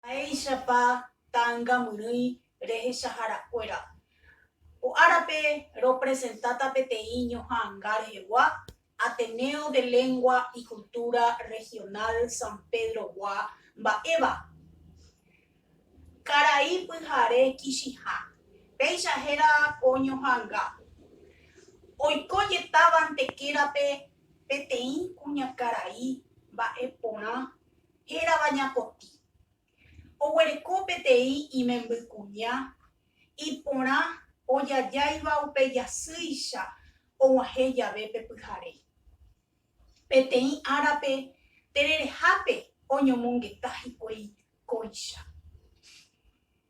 Mba'éichapa ta'angamyrỹi rehechaharakuéra? Ko árape ropresentáta peteĩ ñoha'ãnga rehegua, Ateneo de Lengua y Cultura Regional San Pedro-gua mba'éva, karai pyhare Kichiha. Péicha héra ko ñoha'ãnga, Oiko jetávante kérape peteĩ kuñakarai mba'e porã. hérava Ñapotĩ, oguereko peteĩ imembykuña iporã ojajáiva upe jasýicha oguahẽ jave pe pyhare. Peteĩ árape tererehápe oñomongeta hikuái kóicha.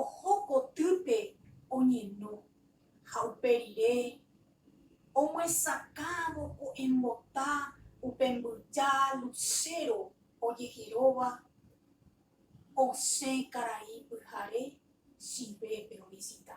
oho kotýpe oñeno ha upe rire omyesakãvo ko embota upe mbyja lucero ojeheróva osẽ karai pyhare Chile-pe ovisita.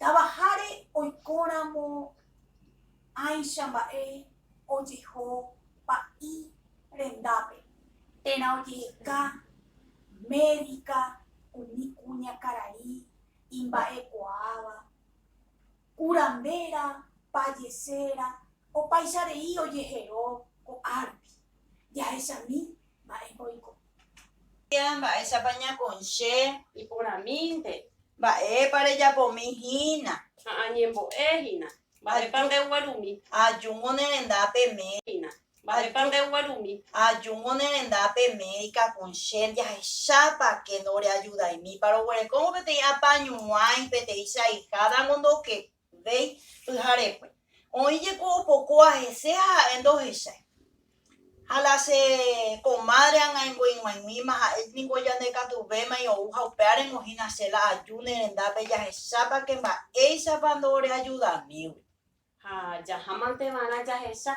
Tavaháre oikóramo áicha mba'e ojeho pa'i rendápe térã ojeheka médika umi kuñakarai imba'ekuaáva, kuranvéra, payeséra, opaicha rei ojehero ko'árupi. Jahechami Mba'épa oiko? Tía, mba'éichapa ñakõiche? Iporãmínte. Mba'épa rejapomi hína? Ha añembo'e hína. Mba'épa ndeguerumi? Ajúngo ne renda pe médica. Hína. Mba'épa ndeguerumi? Ajúngo ne renda pe médica kõiche. Jahechápa ke ndoreajudaimípa. Roguereko peteĩ apañuãi, peteĩ chaiháta ngo ndokekói. Véi, pyharekue. Oĩ jeko opokóa hese ha ha'e ndohechái. Ha la che komádre ag̃aingo ig̃uaig̃uíma, ha'e ningo ñande katu vémai ou ha upe árengo hína che la aju ne rendápe jahechápa ke mba'éichapa ndoreajudamígui. Ha jahámante va'erã jahecha,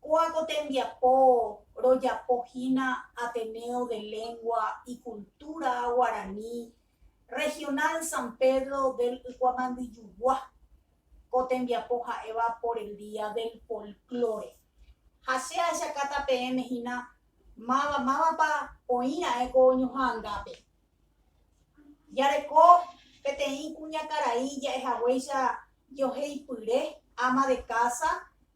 Kóa ko tembiapo rojapo hína Ateneo de Lengua y Cultura Guarani Regional San Pedro del Ykuamandyjugua, ko tembiapo ha'éva por el día del folklore. Ha che ajakáta peẽme hína máva mávapa oĩ ra'e ko ñoha'ãngápe. Jareko peteĩ kuñakarai ja'ehaguéicha joheipyre ama de casa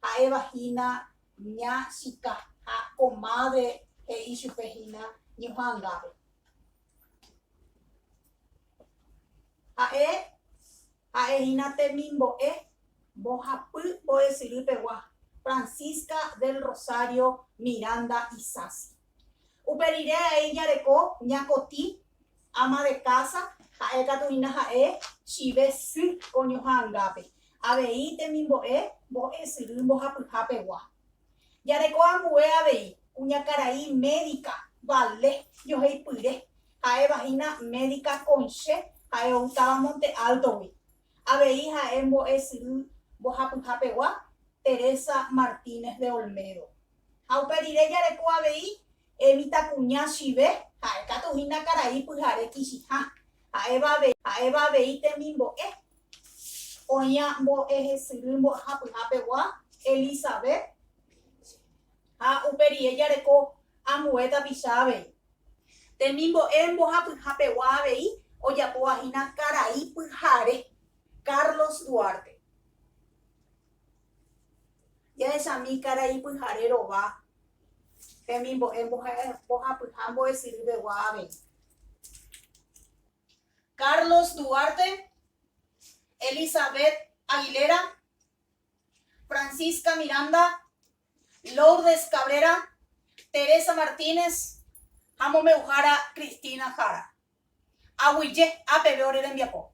ha'éva hína ña chika ha comadre he'i chupe hína ñoha'ãngápe. Ha'e ha'e hína temimbo'e mbohapy mbo'esyry pegua Francisca del Rosario Miranda Isasi. Upe rire avei jareko ñakotĩ, ama de casa, ha'e katu hína ha'e chive sy koño ha angápe, avei temimbo'e mbo'esyry mbohapyha pegua. Jareko ambue avei kuñakarai médica Vale Ñohaypyre, ha'éva hína médica Conche, ha'e outáva Monte Alto-gui, avei ha'e mbo'esyry mbohapyha pegua Teresa Martínez de Olmedo. Ha upe rire jareko avei mitãkuña chive, ha'e katu hína karai pyhare kichiha, ha'éva avei temimbo'e. Oĩva mbo'ehesyry mbo'ehapyhapegua Elisabet ha upe rire jareko ambue tapicha avei. Temimbo'e mbohapyhapegua avei ojapóva hína karai pyhare Carlos Duarte. Jahechami karai pyhare rova hemimbo'e mbohapyha mbo'esyrýpegua avei. Carlos Duarte, Elizabeth Aguilera, Francisca Miranda, Lourdes Cabrera, Teresa Martínez ha mombe'uhára Cristina Jara. Aguyje apeve ore rembiapo.